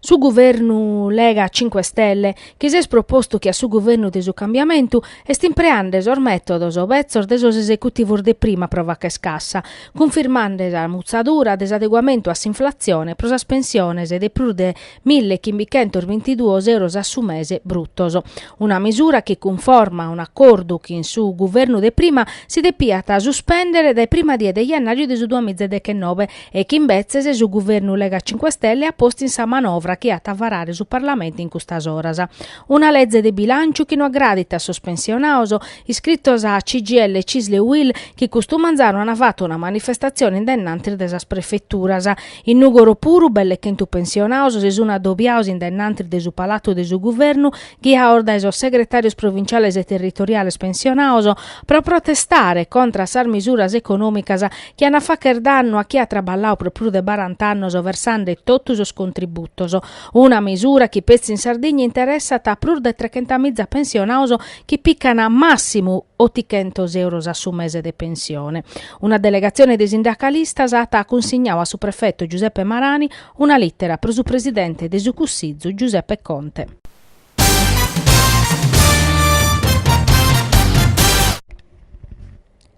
Su guvernu Lega Cinque Stelle, chi s'est propostu che a su guvernu de su cambiamentu, est impreande sos mètodos betzos de sos esecutivos de prima pro facher cassa, cunfirmande sa mutzadura de s'adeguamentu a s'inflatzione pro sas pensiones de prus de mille chimbichentos bintiduos euros a su mese brutos. Una mesura chi cunforma a un'acordu chi in su guvernu de prima si depiat suspèndere dae prima die de jennàriu de su duamiza e deghennobe, e chi imbetzes su guvernu Lega Cinque Stelle at postu in sa manovra chi at a varare su Parlamentu in custas oras. Una leze de bilànciu chi no agradit a sos pensionados, iscritos a CGIL Cisl e UIL chi custu manzanu an fatu una manifestatzione in dennantis de sas prefeturas. In Nùgoro puru belle chentu pensionados si sun adobiados in dennantis de su palatu de su guvernu ghiados dae sos segretàrios provinciales e territoriales pensionados pro protestare contra a sas misuras econòmicas chi an a facher dannu a chie at traballau pro prus de barant'annos versande totus sos contributos, una mesura chi petzi in Sardigna interessat a prus de trechentamìza pensionados chi pican màssimu otichentos euros a su mese de pensione. Una delegatzione de sindacalistas at cunsignadu a su prefetu Giuseppe Marani una lìtera pro su presidente de su Cussizu Giuseppe Conte.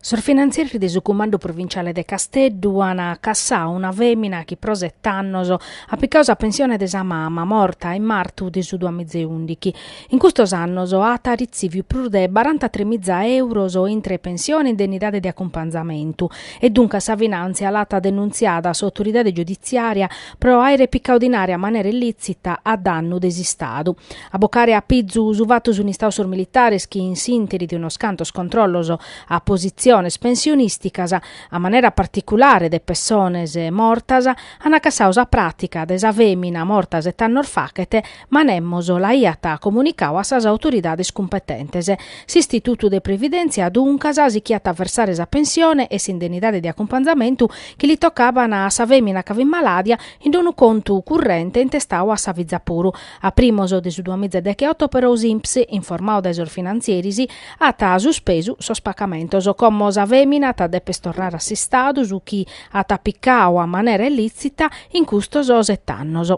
Sos finantzieris de su Cumandu Provinciale de Casteddu an cassau una femina chi pro set'annos at picau sa pensione de sa mama, morta in martu de su duamizeundighi. In custos annos at retziviu prus de barantatremiza euros intre pensione e indennidade de acumpanzamentu e duncas sa finàntzia l'at denuntziada a s'autoridade giuditziària pro àere picau dinare a manera illitzita a dannu de s'Istadu. A bocare a pizu su fatu sunt istados sos militares chi in s'interi de unos cantos controllos a positziones pensionìsticas, a manera particulare de pessones mortas, ant cassadu sa pràtica de sa fèmina morta set'annos faghet, ma nemos l'aiat comunicadu a sas autoridades cumpetentes. S'Istitutu de Previdèntzia, duncas, sichiat a versare sa pensione e s'indennidade de acumpanzamentu chi li tocaban a sa fèmina ca fit malàdia in unu contu currente intestadu a sa fiza puru A primos de su duamiza e decheoto però s'INPS, informadu dae sos finantzieris, at suspesu sos pagamentos, como sa fèmina at a dèpere torrare a s'Istadu su chi at picadu a manera illìtzita in custos sete annos.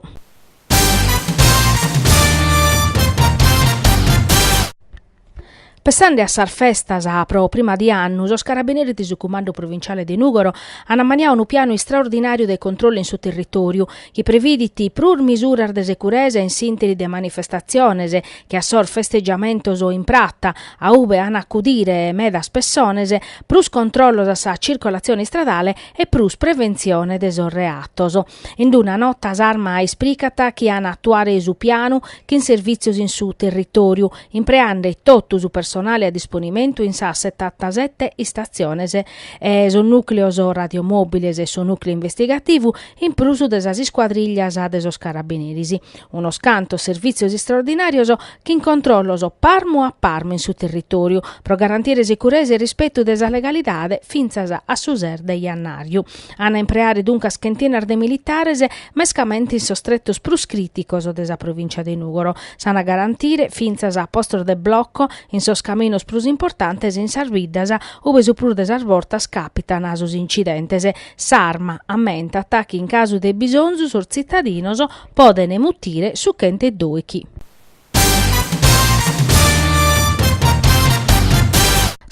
Pessande a sas festas pro prima di annu, sos Carabineris de su Cumandu Provinciale de Nùgoro ant ammaniadu unu pianu istraordinàriu de controllu in su territòriu, chi previdit prus misuras de securesa in s'ìnteri de manifestatziones che a sos festegiamentos in prata, a ube ant a acudire medas pessones, prus controllos a sa circolatzione istradale e prus preventzione de sos reatos. In una nota s'Arma ispricat chi ant a atuare su pianu chin servìtzios in su territòriu, impreande totu su personale a disponimentu in sas setantasete istatziones e sos nùcleos radiomòbiles e su nùcleo investigativu, in prus de sas iscuadrìllias de sos carabineris. Unos cantos servìtzios istraordinàrios chin controllos parmu a parmu in su territòriu, pro garantire sicuresa e rispetu de sa legalidade fintzas a su ses de jannàriu. Ant a impreare duncas chentenas de militares, mescamente in sos tretos prus crìticos de sa provìncia de Nùgoro. S'ant a garantire fintzas a postos de bloco in sos caminos prus importantes e in sas biddas ube su prus de sas bortas càpitan sos incidentes. S'arma ammentat chi in casu de bisonzu sos tzitadinos podent mutire su chent'e dòichi.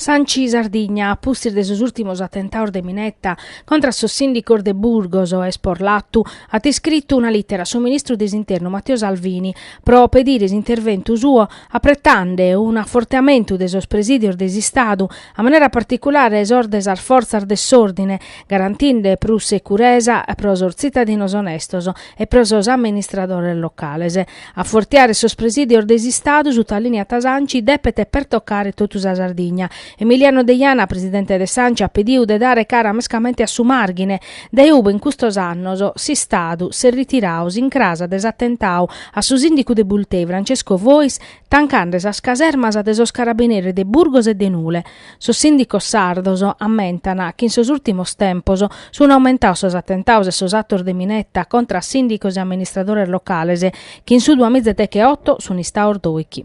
S'Anci Sardigna, a pustis de sos ùrtimos atentados de mineta contra a sos sìndicos de Burgos e Esporlatu, at iscritu una lìtera a su ministru de s'Internu Matteo Salvini pro pedire s'interventu suo apretande un'afortiamentu de sos presìdios de s'Istadu, a manera particulare sos de sas fortzas de s'òrdine, garantinde prus securesa pro sos tzitadinos onestos e pro sos amministradores locales. Afortiare sos presìdios de s'Istadu, sutalìniat s'Anci, depet pertocare totu sa Sardigna. Emiliano Deiana, presidente de s'Anci, at pediu de dare cara mescamente a su Màrghine, dae ube in custos annos s'Istadu s'est ritiradu s'incràs de s'atentadu a su sìndicu de Bultei, Francesco Fois, tancande sas casermas de sos carabineris de Burgos e de Nule. Sos sìndicos sardos ammentan chi in sos ùrtimos tempos sunt aumentados sos atentados e sos atos de mineta contra a sìndicos e amministradores locales, chi in su duas mìgias e decheoto sunt istados dòichi.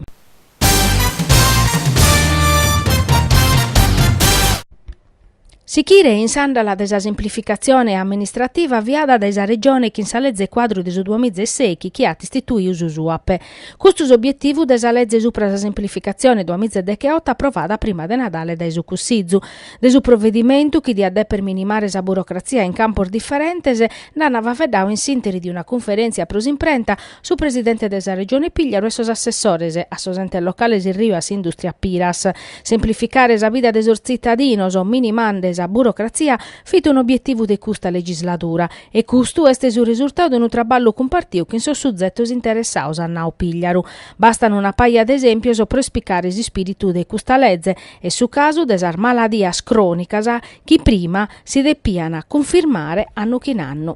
Sichire in s'àndala de sa simplificatzione amministrativa aviada dae sa Regione chin sa Leze Cuadru de su duas mìgias e sèichi chi at istituidu su SUAPE, Custu s'obietivu de sa leze supra sa semplificatzione duamiza e decheoto aprovada prima de Nadale dae su Cussizu. De su provedimentu, chi diat dèpere minimare sa burocratzia in campos diferentes, nd'ant faeddadu in s'ìnteri de una cunferèntzia pro s'imprenta, su presidente de sa Regione Pigliaru e sos assessores a sos entes locales Erriu a s'Indùstria Piras. Semplificare sa vida de sos tzitadinos, minimande sa burocratzia, fit un'obietivu de custa legisladura. E custu est su resurtau de unu traballu cumpartiu chin sos suzetos interessados, at nau Pigliaru. Bastan una paja de esèmpios pro ispiecare s'ispìritu de custa leze, est su casu de sas maladias crònicas chi prima si depian cunfirmare annu chin annu.